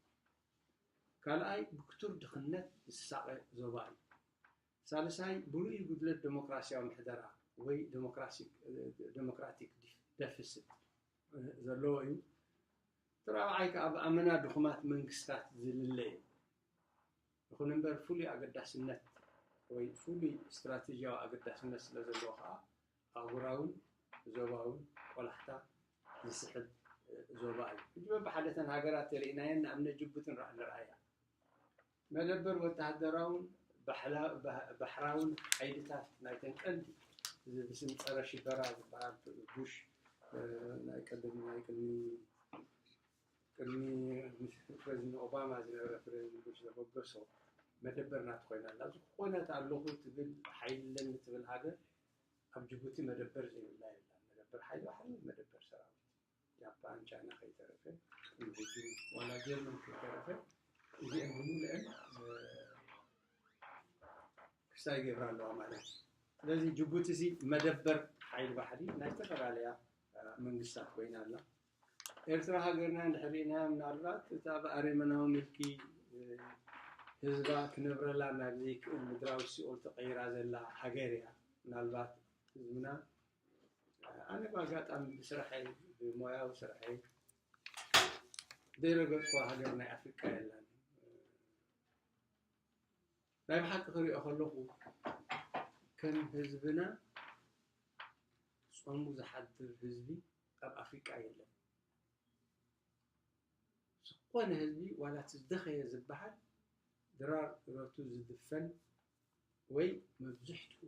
ካልኣይ ብክቱር ድኽነት ዝሳቐ ዞባ እዩ። ሳልሳይ ብርኡይ ጉድለት ደሞክራሲያዊ ምሕደራ ወይ ደሞክራቲክ ደፍስት ዘለዎ እዩ። እቲ ራብዓይ ከኣ ብኣመና ድኹማት መንግስታት ዝልለ እዩ። ይኹን እምበር ፍሉይ ኣገዳስነት ወይ ፍሉይ ስትራተጂያዊ ኣገዳስነት ስለዘለዎ ከኣ ኣህጉራውን ዞባውን ቆላሕታ ዝስሕብ ዞባ እዩ። ሕጂ በብሓደ እተን ሃገራት ተሪእናየን ንኣብነት ጅቡቲ ንርኣያ። መደበር ወተሃደራውን ባሕራውን ሓይልታት ናይተን ቀንዲ እዚ ብስም ጸረ ሽበራ ዝበሃል ቡሽ ናይ ቀደም ናይ ቅድሚ ቅድሚ ፕረዚደንት ኦባማ ዝነበረ ፕረዚደንት ቡሽ ዘበገሶ መደበር ናቱ ኮይና ኣላ። ኣብዚ ኩነት ኣለኹ ትብል ሓይሊ ኣለኒ ትብል ሃገር ኣብ ጅቡቲ መደበር ዘይብላ የላን መደበር ሓይሊ ባሕሪ መደበር ሰራዊት ጃፓን ቻይና ከይተረፈ ኢንቪድዩ ዋላ ጀርመን ከይተረፈ እዚኤን ብምልእን ክሳይ ገብራ ኣለዋ ማለት እዩ ስለዚ ጅቡቲ እዚ መደበር ሓይሊ ባሕሪ ናይ ዝተፈላለያ መንግስታት ኮይና ኣላ ኤርትራ ሃገርና እንድሕር ሪእናያ ምናልባት እታ ብኣሬመናዊ ምልኪ ህዝባ ክነብረላ ናብ ዘይክእል ምድራዊ ሲኦል ተቐይራ ዘላ ሃገር እያ። ምናልባት ህዝብና ኣነ ብኣጋጣሚ ብስራሐይ ብሞያዊ ስራሐይ ዘይረገጽኩዋ ሃገር ናይ ኣፍሪቃ የላን። ናይ ብሓቂ ክሪኦ ከለኹ ከም ህዝብና ጾሙ ዝሓድር ህዝቢ ካብ ኣፍሪቃ የለን ዝኾነ ህዝቢ ዋላ እቲ ዝደኸየ ዝበሃል ድራር እረቱ ዝድፈን ወይ መብዝሕትኡ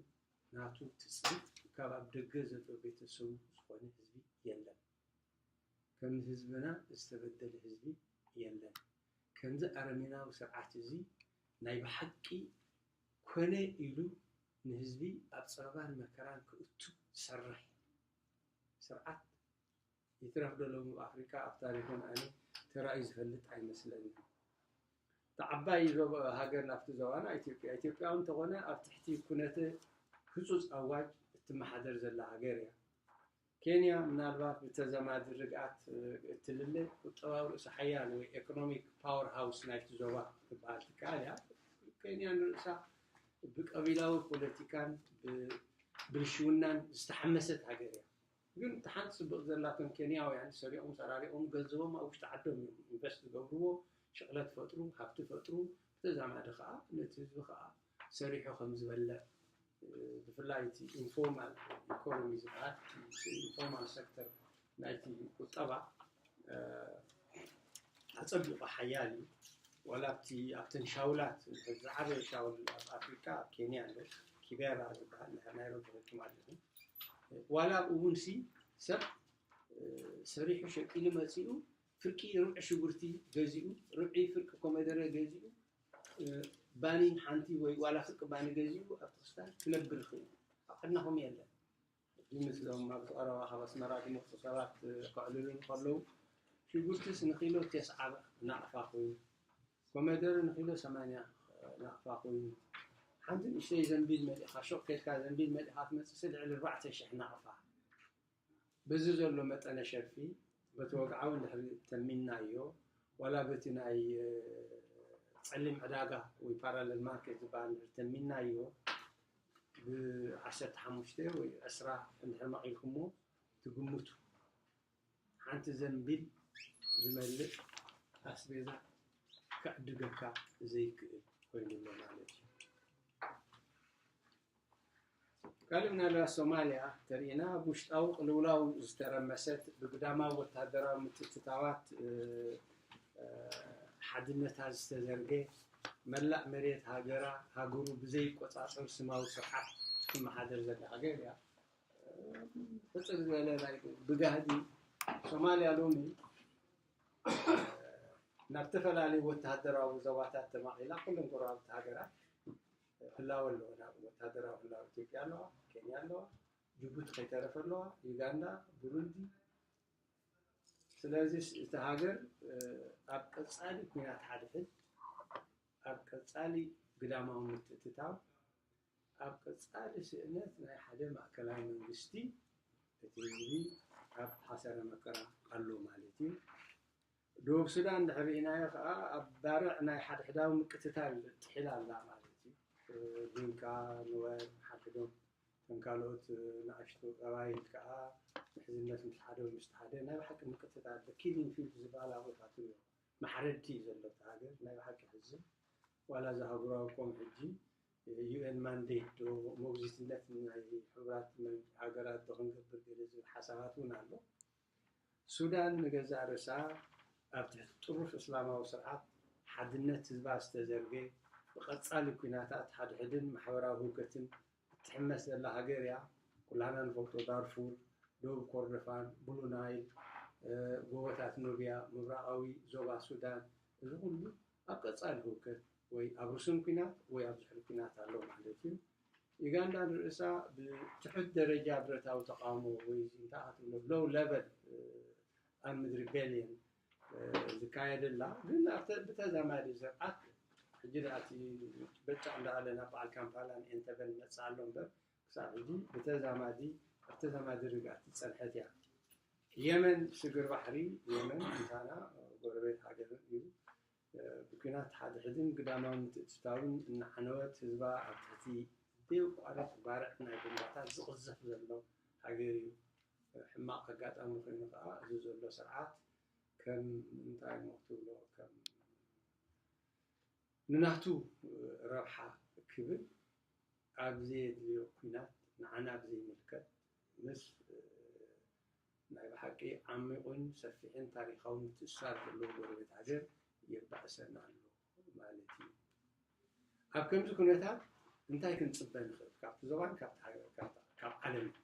ናቱ ትጽቢት ካብ ኣብ ደገ ዘሎ ቤተሰቡ ዝኾነ ህዝቢ የለን። ከም ህዝብና ዝተበደለ ህዝቢ የለን። ከምዚ ኣረሜናዊ ስርዓት እዚ ናይ ብሓቂ ኮነ ኢሉ ንህዝቢ ኣብ ጸበባን መከራን ክእቱ ዝሰርሕ ስርዓት ይትረፍ ዶ ሎሚ ኣብ ኣፍሪቃ ኣብ ታሪኽን ኣነ ተራእዩ ዝፈልጥ ኣይመስለንን። እታ ዓባይ ሃገር ናብቲ ዞባና ኢትዮጵያ ኢትዮጵያ እውን እንተኾነ ኣብ ትሕቲ ኩነተ ህፁፅ ኣዋጅ እትመሓደር ዘላ ሃገር እያ። ኬንያ ምናልባት ብተዘማዲ ርግኣት እትልለ ቁጠባዊ ርእሲ ሓያል ወይ ኤኮኖሚክ ፓወር ሃውስ ናይቲ ዞባ ክትበሃል ትከኣል እያ። ኬንያ ንርእሳ ብቀቢላዊ ፖለቲካን ብብልሽውናን ዝተሓመሰት ሃገር እያ። ግን እታ ሓንቲ ጽብቕቲ ዘላቶም ኬንያውያን ሰሪቖም ሰራሪቖም ገንዘቦም ኣብ ውሽጢ ዓዶም እዮም ኢንቨስት ዝገብርዎ፣ ሽቕለት ፈጥሩ፣ ሃብቲ ፈጥሩ፣ ብተዛማዲ ከኣ ነቲ ህዝቢ ከኣ ሰሪሑ ከም ዝበልዕ ብፍላይ እቲ ኢንፎርማል ኢኮኖሚ ዝበሃል ኢንፎርማል ሰክተር ናይቲ ቁጠባ ኣጸቢቑ ሓያል እዩ። ዋላ ኣብቲ ኣብተን ሻውላት እንድሕር ዝዓበየ ሻውል ኣብ ኣፍሪቃ ኣብ ኬንያ ኣሎ ኪቤራ ዝበሃል እንድሕር ናይሮቢ ርኪብ ኣለኹም ዋላ ኣብኡ እውን ሲ ሰብ ሰሪሑ ሸቂሉ መጺኡ ፍርቂ ርብዒ ሽጉርቲ ገዚኡ ርብዒ ፍርቂ ኮመደረ ገዚኡ ባኒ ሓንቲ ወይ ዋላ ፍርቂ ባኒ ገዚኡ ኣብቲ ክስታን ክነብር ይኽእል ኣብ ዓድናኹም የለን ሕጂ ምስዞም ኣብቲ ቀረባ ካብ ኣስመራ ዝመጹ ሰባት ከዕልሉ እንከለዉ ሽጉርቲስ ንኪሎ ቴስዓ ናቕፋ ኮይኑ ኮመደረ ንኪሎ ሰማንያ ናቕፋ ኮይኑ ሓንቲ ንእሽተይ ዘንቢል መሊእካ ሹቕ ከድካ ዘንቢል መሊእካ ትመጽእሲ ልዕሊ ኣርባዕተ ሽሕ ናቕፋ በዚ ዘሎ መጠነ ሸርፊ በቲ ወግዓዊ እንድሕሪ ተሚንናዮ ዋላ በቲ ናይ ጸሊም ዕዳጋ ወይ ፓራለል ማርኬት ዝበሃል እንድሕሪ ተሚንናዮ ብ ዓሰርተ ሓሙሽተ ወይ ዕስራ እንድሕር መቒልኩሞ ትግምቱ ሓንቲ ዘንቢል ዝመልእ ኣስቤዛ ክዕድገካ ዘይክእል ኮይኑ ኣሎ ማለት እዩ። ካልእ ምናልባት ሶማልያ ተርእና ኣብ ውሽጣዊ ቅልውላው ዝተረመሰት ብግዳማዊ ወተሃደራዊ ምትእትታዋት ሓድነታ ዝተዘርገ መላእ መሬት ሃገራ ሃገሩ ብዘይቆጻጸር ስማዊ ስርዓት ትመሓደር ዘላ ሃገር እያ። ሕጽር ዝበለ ናይ ብጋህዲ ሶማልያ ሎሚ ናብ ዝተፈላለዩ ወተሃደራዊ ዞባታት ተማቒላ ኩሎም ጎረባብቲ ሃገራት ህላወ ኣለዎ ናብ ወተሃደራዊ ህላወ ኢትዮጵያ ኣለዋ ኬንያ ኣለዋ ጅቡቲ ከይተረፈ ኣለዋ ዩጋንዳ ብሩንዲ ስለዚ እቲ ሃገር ኣብ ቀፃሊ ኩናት ሓድሕድ፣ ኣብ ቀፃሊ ግዳማዊ ምትእትታው፣ ኣብ ቀፃሊ ስእነት ናይ ሓደ ማእከላይ መንግስቲ እቲ ህዝቢ ኣብ ሓሰረ መከራ ኣሎ ማለት እዩ። ደቡብ ሱዳን ድሕሪ ርኢናዮ ከኣ ኣብ ባርዕ ናይ ሓድሕዳዊ ምቅትታል ጥሒላ ኣላ ማለት እዩ። ዲንካ፣ ኑዌር፣ ሓድሕዶም እተን ካልኦት ንኣሽቱ ቀባይል ከኣ ምሕዝነት ምስ ሓደ ወይ ምስቲ ሓደ ናይ ብሓቂ ምቅትታል ኣሎ። ኪሊንግ ፊልድ ዝበሃል ኣብኡ ኢኻ ትሪኦ። ማሕረድቲ እዩ ዘሎ እቲ ሃገር። ናይ ብሓቂ የሕዝን። ዋላ እዚ ኣህጉራዊ ኮም ሕጂ UN ማንዴት ዶ ሞግዚትነት ናይ ሕቡራት ሃገራት ዶ ክንገብር ገለ ዝብል ሓሳባት እውን ኣሎ። ሱዳን ንገዛእ ርእሳ ኣብ ትሕቲ ጥሩፍ እስላማዊ ስርዓት ሓድነት ህዝባ ዝተዘርገ፣ ብቐጻሊ ኲናታት ሓድሕድን ማሕበራዊ ህውከትን እትሕመስ ዘላ ሃገር እያ። ኩላህና ንፈልጦ ዳርፉር፣ ደቡብ ኮርዶፋን፣ ብሉ ናይል፣ ጎቦታት ኑብያ፣ ምብራቓዊ ዞባ ሱዳን፣ እዚ ኩሉ ኣብ ቀጻሊ ህውከት ወይ ኣብ ርሱን ኲናት ወይ ኣብ ድሕሪ ኲናት ኣሎ ማለት እዩ። ዩጋንዳ ንርእሳ ብትሑት ደረጃ ብረታዊ ተቓውሞ ወይ እንታይ ኢኻ ትብሎ ሎው ለቨል ኣርምድ ሪቤልየን ዝካየደላ ግን ኣብተ ብተዛማዲ ስርዓት ሕጂ ደኣ እቲ በጫቕ እንዳበለ ናብ በዓል ካምፓላን ኤንተበን መጽኣ ኣሎ እምበር ክሳብ ሕጂ ብተዛማዲ ኣብ ተዛማዲ ርግኣት ዝጸንሐት እያ የመን ስግር ባሕሪ የመን ምሳና ጎረቤት ሃገር እዩ ብኲናት ሓድሕድን ግዳማዊ ምትእትታውን እናዓነወት፣ ህዝባ ኣብ ትሕቲ ብዘየቋርጽ ባርዕ ናይ ቦምባታት ዝቕዘፍ ዘሎ ሃገር'ዩ። ሕማቕ ኣጋጣሚ ኮይኑ ከኣ እዚ ዘሎ ስርዓት ከም እንታይ'ሞ ክትብሎ ከም ንናቱ ረብሓ ክብል ኣብ ዘየድልዮ ኲናት ንዓና ብዘይምልከት፣ ምስ ናይ ብሓቂ ዓሚቑን ሰፊሕን ታሪኻዊ ምትእስሳር ዘለዎ ጎረቤት ሃገር የባእሰና ኣሎ ማለት እዩ። ኣብ ከምዚ ኩነታት እንታይ ክንጽበ ንኽእል ካብቲ ዞባን ካብቲ ሃገር ካብ ዓለምን?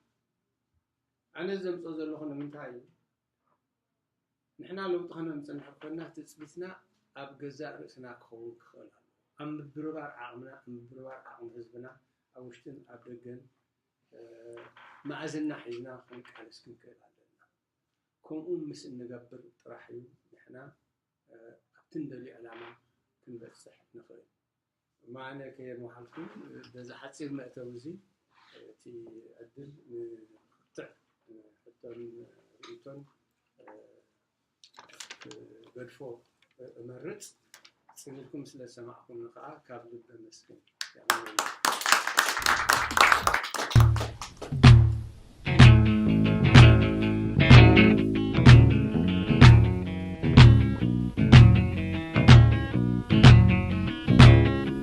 ኣነ ዘምጽኦ ዘለኹ ንምንታይ እዩ ንሕና ለውጢ ከነምጽእ እንድሕር ኮይንና ትጽቢትና ኣብ ገዛእ ርእስና ክኸውን ክኽእል ኣሎ ኣብ ምብርባር ዓቕምና ምብርባር ዓቕሚ ህዝብና ኣብ ውሽጥን ኣብ ደገን መኣዝና ሒዝና ክንቃለስ ክንክእል ኣለና። ከምኡ ምስ እንገብር ጥራሕ እዩ ንሕና ኣብቲ እንደልዮ ዕላማ ክንበጽሕ ንኽእል። ማነ ከየምሃልኩ በዚ ሓጺር መእተዊ እዚ እቲ ዕድል ንክትዕ ሕቶን ርእይቶን ክትገድፎ እመርጽ ጽኒትኩም ስለ ዝሰማዕኩምኒ ከዓ ካብ ልቢ ኣመስግን